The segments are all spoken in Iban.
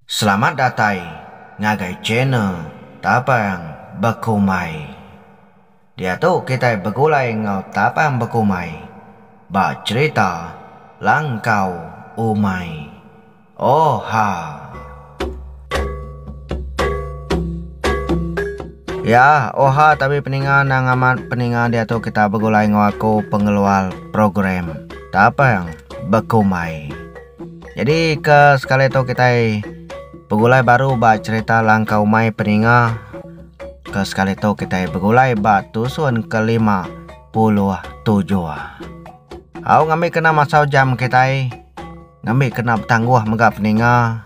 Selamat datai ngagai channel Tapang Bekumai. Diatu kitai begulai enggau Tapang Bekumai ba cherita Langkau Umai. Oha. Ya, oha tabi peninga endang amat peninga diatu kita begulai enggau aku pengeluar program Tapang Bekumai. Nyadi ke sekali tu kitai begulai baru ba cerita langkah umai peninga ke sekali tu kitai begulai ba tusun ke lima puluh tujuh. Au ngambi kena masau jam kitai ngambi kena betangguh mega peninga.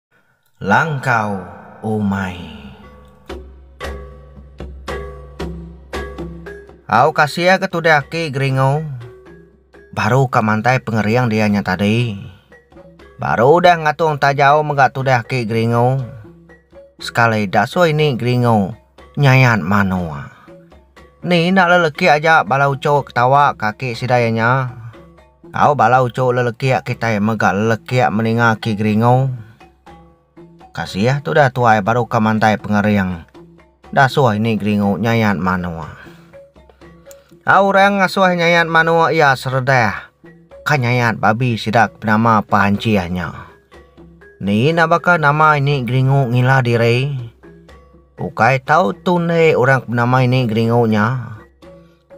Langkau umai. Au kasia ke tude aki geringu baru ka mantai pengering dia nya tadi baru udah ngatung tajau mega tude aki geringu sekali dasui ni geringu nyayan manua ni enda lelekik aja bala uchu ketawa ka aki sida iya nya. Au bala uchu lelekiak kitai mega lelekiak meninga aki geringu. Kasih tudah tuai baru ka mandai pengering. Dasuh ini geringu nyayat manua. Au orang ngasuh nyayat manua iya seredah ka nyayat babi sida ke penama Panjih nya. Ni ina baka nama ini geringu ngila diri? Ukai tau tun deh orang ke penama ini geringu nya.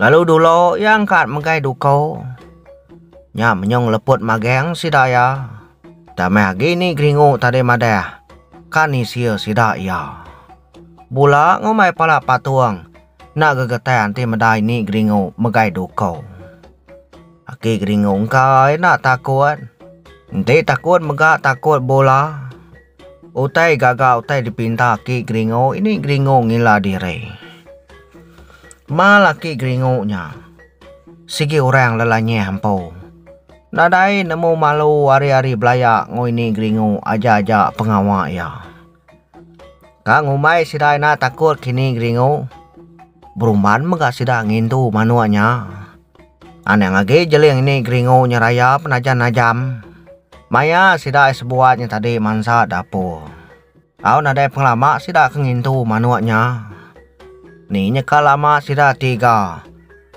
Lalu dulu iya engkat megai duku. Nya menyung leput magang sida iya. Utai meh agi ni geringu tadi madah ka nisia sida iya. Bula ngumbai pala patung enda gegetah enti medai ni geringu megai duku. Aki geringu engka ai enda takut. Enti takut mega takut bula. Utai gaga utai dipinta aki Gringo ini Gringo ngila diri. Mal aki Gringo nya. Sigi orang lelanyah empu. Nadai nemu malu ari-ari belaya enggau ini Gringo aja-aja pengawa iya. Ka ngumbai sida ina takut kini Gringo berumban mega sida ngintu manuk nya. Anang agi jeling ini geringu nya raya penajan najam. Maya sida ai sebuat nya tadi mansa dapur. Tau nadai pengelama sida ke ngintu manuk nya. Ni nya ka lama sida tiga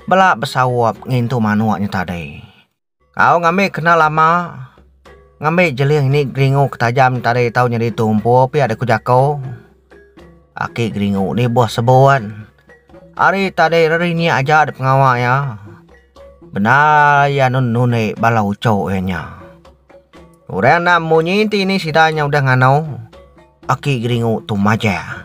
bela besaup ngintu manuk nya tadi. Au ngambi kena lama ngambi jeling ni geringu ke tajam tadi tau nyadi tu empu pia da ku jako aki geringu ni boh sebon ari tadi ari nya aja da pengawa iya bendar iya nun nunek bala ucho iya nya orang enda munyi ti ni sida nya udah ngano aki geringu tu maja.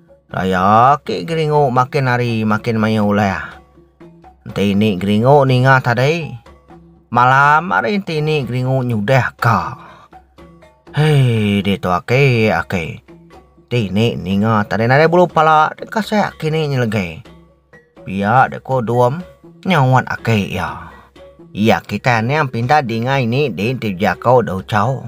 Raya ake geringo makin hari makin maioh uleh. Enti ni geringo ninga tadi. Malam ari enti ni geringo nyudeh ka. Hei ditu ake ake. Ti ni ninga tadi nadai bulu pala deka sek kini nyelege. Pia dek ko Dom nyauat ake iya. Iya kitai niang pindah dinga ini di enti jako da Uchaw.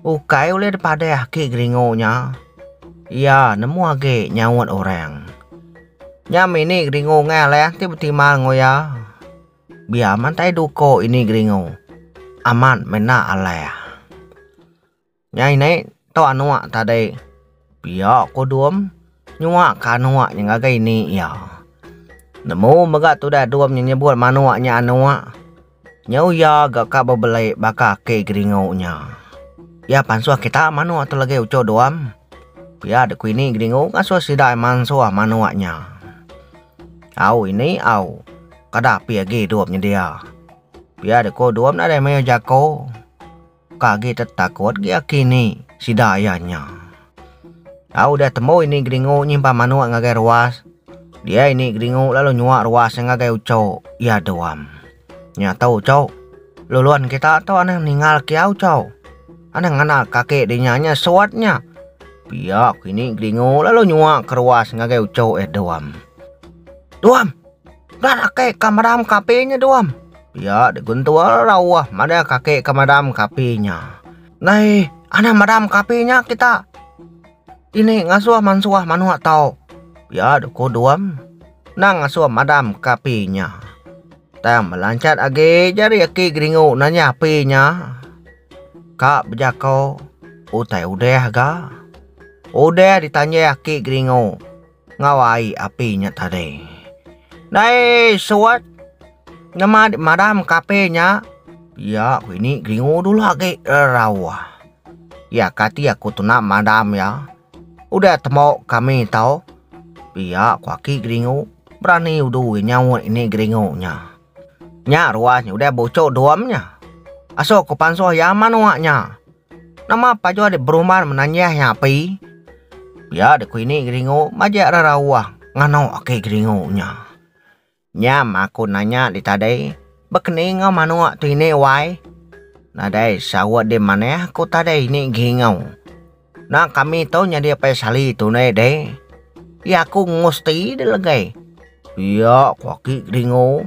Ukai ulih dipadah agi geringu nya, iya nemu agi nyaut orang. Nya mini geringu ngai alai ti betimal enggau iya. Biar man tai duko ini geringu amat menda alai. Nya ini tok anok tadi. Pia ko Dom nyuak ka anok nya ngagai ini iya. Nemu mega tudah Dom nya nyebut manok nya anok. Nyau iya ga ka bebelai baka aki Geringo nya. Iya pansuh kita manok tu lagi uchu Dom. Pia de ku ini Geringo ngasuh sida mansuh manok nya. Au ini au kada api agi Dom nyedia. Pia de ko Dom nadai mayuh jako. Ka agi tetakut gi aki ni sida iya nya. Tau udah tembu ini Geringu nyimpan manuk ngagai ruas. Dia ini Geringu lalu nyuak ruas iya ngagai ucho iya duam. Nya tu ucho, lulun kita tu anang ningal kia ucho. Anang ngena kaki di nya nya suat nya. Pia kini Geringu lalu nyuak ke ruas ngagai ucho iya duam. Duam! Nya kaki ka madam ka api nya Duam. Pia dek guntur rauh madah kaki ka madam ka api nya. Nai anang madam ka api nya kita. Ini ngasuh mansuh manuk tau. Pia dek ku Duam nang ngasuh madam ka api nya. Tang belanchat agi jari aki geringu nanya api nya ka bejako utai udah ga. Udah ditanya aki geringu. Ngawa ai api nya tadi. Dai suat. Nama dik madam ka api nya? Ya ku ini geringu dulu agi rauh. Ya kati aku tuna madam ya. Udah temo kami tau. Pia ku aki geringu. Berani udu nyaut ini geringu nya. Nya ruah nya udah bucu dom nya. Aso ku pansuh ya manua nya. Nama pajoh ade beruman menanjah nya api pia de ku ini geringu majak reraoh ngano ake geringu nya. Nyam aku nanya di tadai bekening enggau manok tu ini wai nadai saut di manah ku tadai ini gingau na kami tu nyadi apai sali tunai deh ya aku ngusti de legai pia ku ake geringu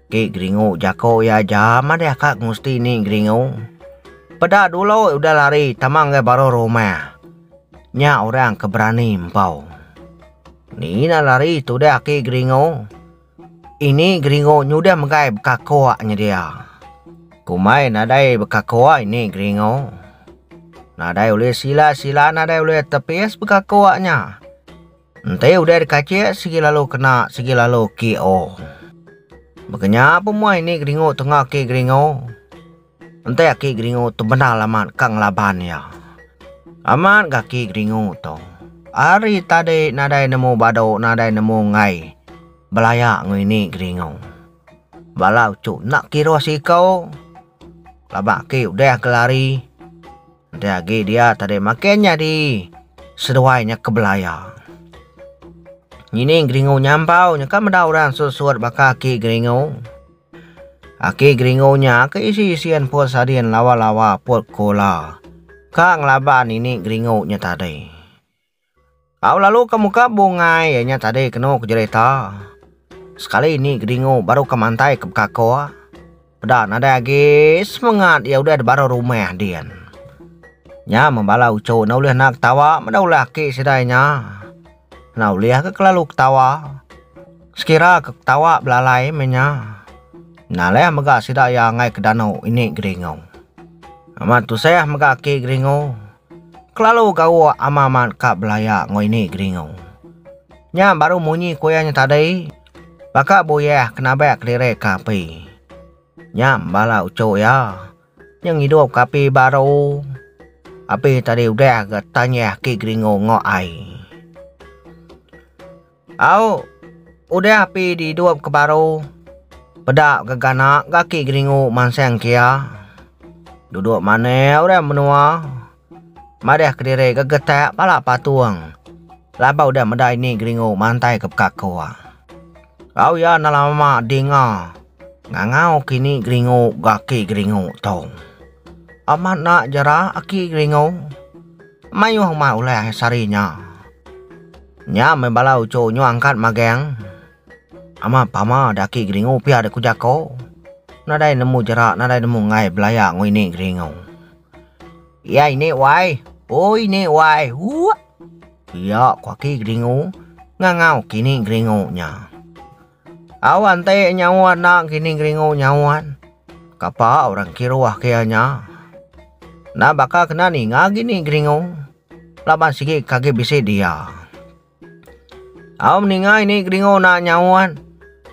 Ti geringu jako iya aja madeh ka ngusti ni geringu. Peda dulu udah lari tama enggai baruh rumah. Nya orang ke berani empau. Ni ina lari tudah aki geringu. Ini geringu nyudah menggai bekakok nyedia. Kumai nadai bekakok ini geringu. Nadai ulih sila sila nadai ulih tepis bekakok nya. Enti udah dikacik sigi lalu kena sigi lalu KO. Baka nya pemuai ni geringu tunga aki geringu. Enti aki geringu tu bendar amat ka ngelaban iya. Amat ga aki geringu tu. Ari tadi nadai nemu badu nadai nemu enggai belaya ngini geringu. Bala uchu enda kiruh siku laban aki udah gelari. Udah agi dia tadi makin nyadi seduai nya ke belaya. Ngining geringu nya ampau nya ka meda orang sut-sut baka aki geringu. Aki geringu nya ke isi-isian put sadin lawa-lawa put kula ka ngelaban nini geringu nya tadi. Au lalu ka muka bungai iya nya tadi kenu ke jerita. Sekali ni Gedingu baru ka mantai ke Bekako, peda nadai agi semengat iya udah dibara rumah din. Nya men bala uchu enda ulih naak ketawa meda ulah aki sida iya nya. Enda ulih ka kelalu ketawa. Sekira ka ketawa belalai meh nya. Nalih mega sida iya anggai ke danu ini Gedingu. Amat tusah mega aki Gedingu. Kelalu gawa ama amat ka belaya enggau ini Geringu. Nya baru munyi ku iya nya tadi baka buyeh ke nabek kelirik ke api. Nya bala uchu iya nya ngidup ke api baru api tadi udah ga tanyih ki Geringu enggau ai. Au udah api di idup ke baru, peda geganak gaki geringu mansang kia. Duduk manah orang menua, madah kediri gegetak pala patung laban udah meda ini geringu mantai ke pekakua. Au iya enda lama dinga ngangau ke ini geringu gaki geringu tu. Amat enda jera aki geringu, mayuh uma ulah sari nya. Nya meh bala uchu nyu angkat magang ama pama daki geringu pia dek ku jako nadai nemu jera nadai nemu enggai belaya ngo ini geringu ia ini wai oi ini wai uak pia ku aki geringu ngangau kini geringu nya. Au ante nyawa enda kini ngeringu nyawa. Kapa orang kiruh ke iya nya. Enda baka kena ninga kini ngeringu. Laban sigi ke agi bisi dia. Au ninga ini ngeringu enda nyawa.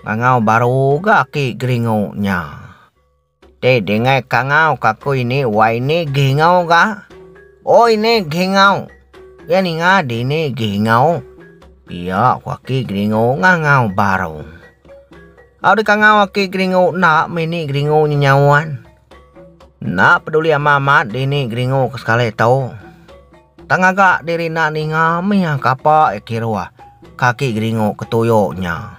Ngangau baru ga aki ngeringu nya. Te dingai kangau kaku ini wai ni gingau ga. Oi ni gingau. Ya ninga dini gingau. Iya ku aki geringu ngangau baru. Au di kangau aki geringu enda mini geringu nyenyauan. Enda peduli ama amat dini geringu ke sekali tu. Tang ngaga diri enda ninga mih iya kapa iya kiruh kaki geringu ke tuyo nya.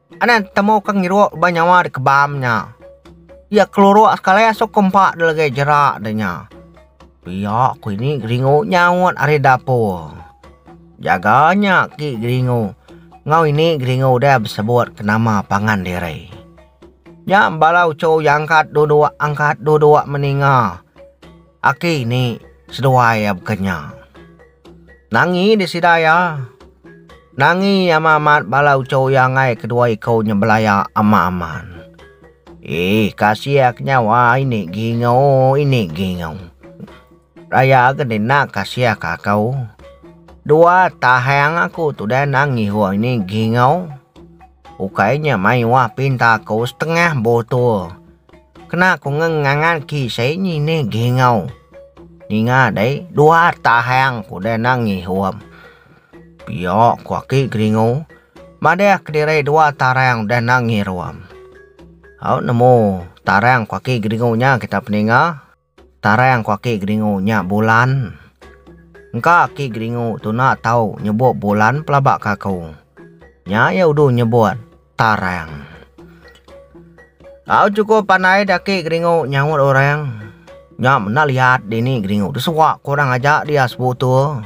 Anak temu ke ngiruk ba nyawa di kebam nya. Iya keluruk sekali asuk ke empa de legi jera de nya. Pia ku ini geringu nyaut ari dapur. Jaga nya ki geringu enggau ini geringu deh besebut ke nama pangan diri. Nya bala uchu iya angkat duduk angkat duduk meninga aki ini seduai iya baka nya. Nangi deh sida iya. Nangi ama amat bala ucho iya enggai kedua iko nya belaya ama amat. Iih kasiak nyawa ini gingo ini gingo. Raya agen deh enda kasiak ako. Dua tahang aku tudah nangi hua ini gingo. Ukai nya mayuh pinta ko setengah botol. Kena ku nge ngangan ki sai ni ne gingau ninga dai dua tahang ku de nang ngihum pio ku aki geringu madah kediri dua tarang de nang ngirum au nemu tarang ku aki geringu nya kita peninga. Tarang ku aki Geringu nya Bulan. Engka aki Geringu tuna tau nyebut Bulan pelaba ke aku. Nya iya udu nyebut Tarang. Au chukup pandai di aki Geringu nyaut orang. Nya menda liat dini Geringu tu suak ku orang aja dia sebutu.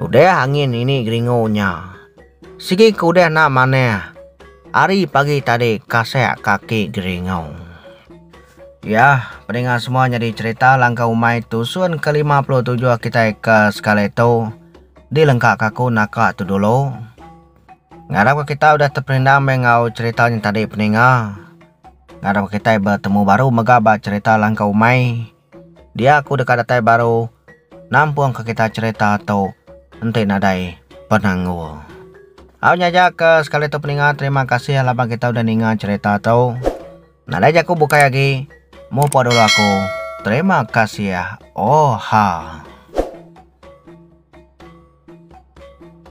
Udah angin ini geringu nya. Sigi ke udah enda manah. Ari pagi tadi kasak kaki geringu. Yah, pedinga semua nyadi cherita langkah umai tusun ke lima puluh tujuh kitai ke sekali tu dilengka ka aku naka tu dulu. Ngarap ka kitai udah teperindang meh enggau cherita nya tadi pedinga. Ngarap ka kitai betemu baru mega ba cherita langkah umai. Dia aku deka datai baru nampungka kita cherita tu enti nadai penanggul. Au nya aja ke sekali tu peninga terima kasih laban kita udah ninga cherita tu. Nadai jaku bukai agi mupa dulu aku terima kasih oha.